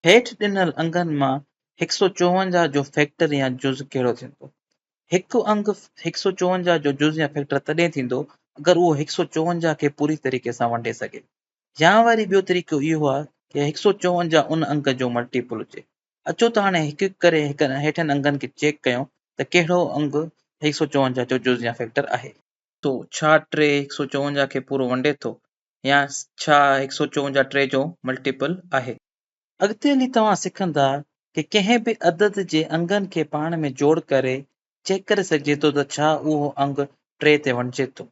هيٺ ڏنل انگن مان هڪ سؤ چوونجاهه جو فيڪٽر يا جز ڪهڙو ٿيندو؟ هڪ انگ هڪ سؤ چوونجاهه جو جز يا فيڪٽر تڏهن ٿيندو اگر اهو هڪ سؤ چوونجاهه کي پوري طريقي سان ونڊي سگهي. يا وري ٻيو طريقو اهو آهي ته هڪ سؤ چوونجاهه ان انگ جو ملٽيپل هجي. اچو ته هاڻي هڪ هڪ ڪري هيٺين انگن کي چيڪ ڪيون ته ڪهڙو انگ هڪ سؤ چوونجاهه جو جز يا فيڪٽر آهي. سو ڇا ٽي هڪ سؤ چوونجاهه کي پورو ونڊي ٿو؟ يا ڇا هڪ سؤ چون جا ٽي جو ملٽيپل آهي؟ اڳتي هلي توهان سکندا ته ڪنهن به عدد جي انگن کي پاڻ ۾ جوڙ ڪري چيڪ ڪري سگهجي ٿو ته ڇا اهو انگ ٽي تي وڻجي ٿو.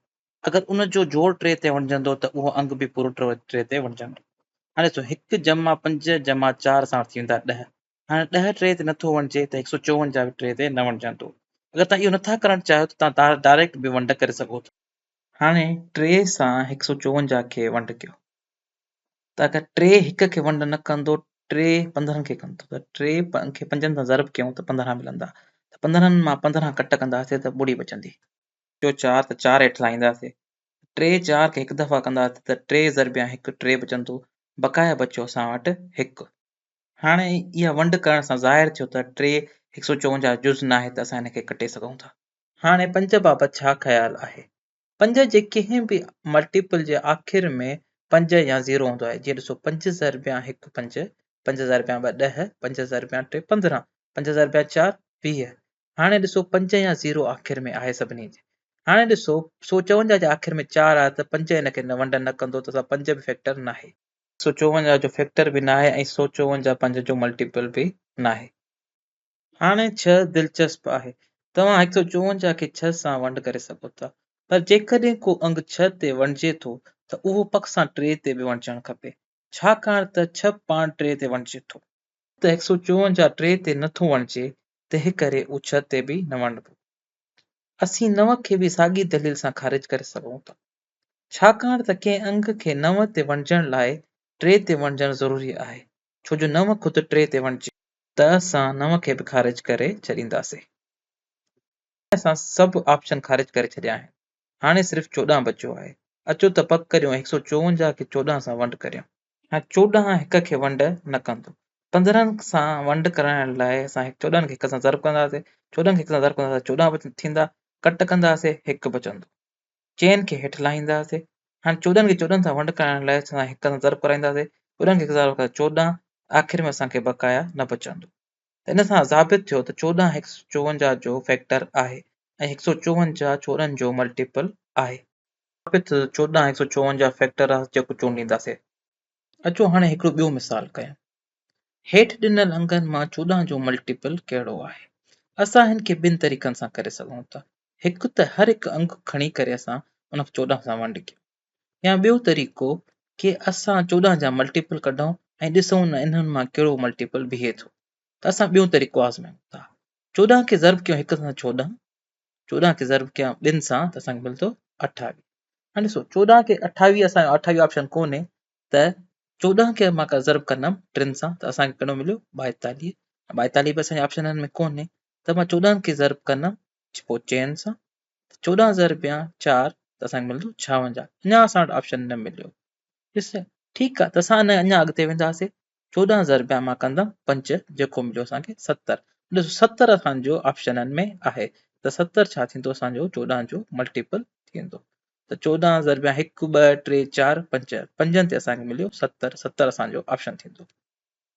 اگر ان جو جوڙ ٽي تي وڻجندو ته اهو انگ به پورو ٽي تي وڻجندو. هاڻي ڏسو هڪ جمع پنج جمع چار ساڻ ٿي ويندا ڏهه. هاڻي ڏهه ٽري تي نٿو وڻجي ته هڪ سؤ چوونجاهه ٽري تي نه وڻجندو. اگر توهان اهو نٿا ڪرڻ چاهيو ته توهان ڊائريڪٽ به ونڊ ڪري سگهو ٿا. هاڻي ٽري سان هڪ سؤ چوونجاهه کي ونڊ ڪيو ته اگر ٽري هڪ کي ونڊ نه ڪندو ٽري پندرهن کي ڪندو ته ٽري کي پنجن سان ضرب ڪيون ته پندرهن ملندا ته پندرهن مان پندرهن ڪٽ ڪنداسين ته ٻڙي بچندي. جو چار ته چار هيٺ لاهينداسين ٽي چار کي هڪ دفعا ڪنداسين ته ٽي ضربيان هڪ ٽري بچندو بقايا بچيو اسان وٽ هڪ. هاڻي اها ونڊ ڪرڻ سان ظاهر ٿيو ته ٽي هڪ سؤ چونجاهه جز ناهي ته اسان ان کي ڪٽي سگهون ٿا. هاڻي پنج بابت ڇا خيال آهي؟ پنج جي ڪنهن به ملٽيپل جي آخر ۾ پنج يا زيرو هوندو آهي، جيئن ڏسو پنج ضربيان هڪ پنج، پنج ضربيان ٻه ڏهه، پنج ضربيان ٽي پندرهن، پنج ضربيان چار ويهه. هاڻي ڏسو پنج يا زيرو آخر ۾ آهي سڀني جي. هاڻي ڏسو سؤ چونجاهه جي آخر ۾ چار آهي ته پنج ان کي ونڊ نه ڪندو ته اسان پنج به فيڪٽر ناهي. سو چوونجاهه جو فيڪٽر به ناهي ۽ سو چوونجاهه پنج جو ملٽيپل به ناهي. هاڻي ڇهه دلچسپ آهي. توهان هڪ سؤ چوونجاهه کي ڇهه سان ونڊ ڪري سگهو ٿا. پر جيڪڏهن ڪو انگ ڇهه تي ونڊجي ٿو ته اهو پڪ سان ٽي تي به ونڊجڻ کپي. ڇاڪاڻ ته ڇهه پاڻ ٽي تي ونڊجي ٿو. ته هڪ سؤ چوونجاهه ٽي تي نه ٿو ونڊجي تنهن ڪري اهو ڇهه تي به نه ونڊبو. اسين نو کي به ساڳي دليل سان خارج ڪري سگهون ٿا. ڇاڪاڻ ته ڪنهن انگ کي نو تي وڻجڻ لاء ٽي تي وڻجڻ ضروري آهي، ڇو جو نو خود ٽي تي وڻجي. ته اسان نو کي به خارج ڪري ڇڏينداسين. هاڻي اسان سڀ آپشن خارج ڪري ڇڏيا آهن. هاڻي صرف چوڏهن بچيو آهي. اچو ته پڪ ڪريون ۽ هڪ سئو چوونجاهه کي چوڏهن سان ونڊ ڪريون. هاڻي چوڏهن هڪ کي ونڊ نه ڪندو. پندرهن سان ونڊ ڪرائڻ لاء اسان چوڏهن کي هڪ سان ضرب ڪنداسين. چوڏهن کي هڪ سان ضرب ڪنداسين ته چوڏهن ٿيندا. ڪٽ ڪنداسين هڪ بچندو. چئن کي هيٺ لاهينداسين. هاڻي چوڏهن کي چوڏهن سان ونڊ ڪرائڻ لاء اسان هڪ هنڌ ضرب ڪرائينداسين، چوڏهن کي هڪ هزار وقت چوڏهن، آخر ۾ اسان کي بقايا نه بچندو. ته ان سان ثابت ٿيو ته چوڏهن هڪ سؤ چوونجاهه جو فيڪٽر آهي ۽ هڪ سؤ چوونجاهه چوڏهن جو ملٽيپل آهي. ثابت ٿيو ته چوڏهن هڪ سؤ چوونجاهه فيڪٽر آهي جيڪو چونڊينداسين. اچو هاڻي هڪڙو ٻيو مثال ڪيون. هيٺ ڏنل انگن مان چوڏهن جو ملٽيپل ڪهڙو آهي؟ اسان هن کي ٻن طريقن سان ڪري سگهون ٿا. هڪ ته هر هڪ انگ کڻي ڪري اسان ان کي چوڏهن سان ونڊ ڪيون يا ٻيو طريقو ڪي اسان چوڏهن جا ملٽيپل ڪڍون ۽ ڏسون نه انهن مان ڪهڙو ملٽيپل بيهي ٿو ته اسان ٻيون طريقو آزمايون ٿا چوڏهن کي ضرب ڪيون هڪ سان چوڏهن چوڏهن کي ضرب ڪيون ٻن سان ته اسان کي ملندو اٺاويهه هاڻي ڏسو چوڏهن کي اٺاويهه اسان اٺاويهه آپشن ڪونهي ته چوڏهن کي مان ضرب ڪندم ٽن سان ته اسان کي ڪهڙو مليو ٻائيتاليهه ٻائيتاليهه به اسان جي آپشنن ۾ ڪونهي ته مان چوڏهن کي ضرب ڪندم پوء چئن سان چوڏهن ضرب يا چار ته اسان کي ملندو ڇاونجاهه اڃا اسان وٽ آپشن نه مليو ڏس ٺيڪ آ ته اسان ان اڃا اڳتي وينداسين چوڏهن ضرب يا مان ڪندم پنج جيڪو مليو اسان کي ستر ڏس ستر اسان جو آپشنن ۾ آهي ته ستر ڇا ٿيندو اسان جو چوڏهن جو ملٽيپل ٿيندو ته چوڏهن ضرب يا هڪ ٻه ٽي چار پنج پنجن تي اسان کي مليو ستر ستر اسان جو آپشن ٿيندو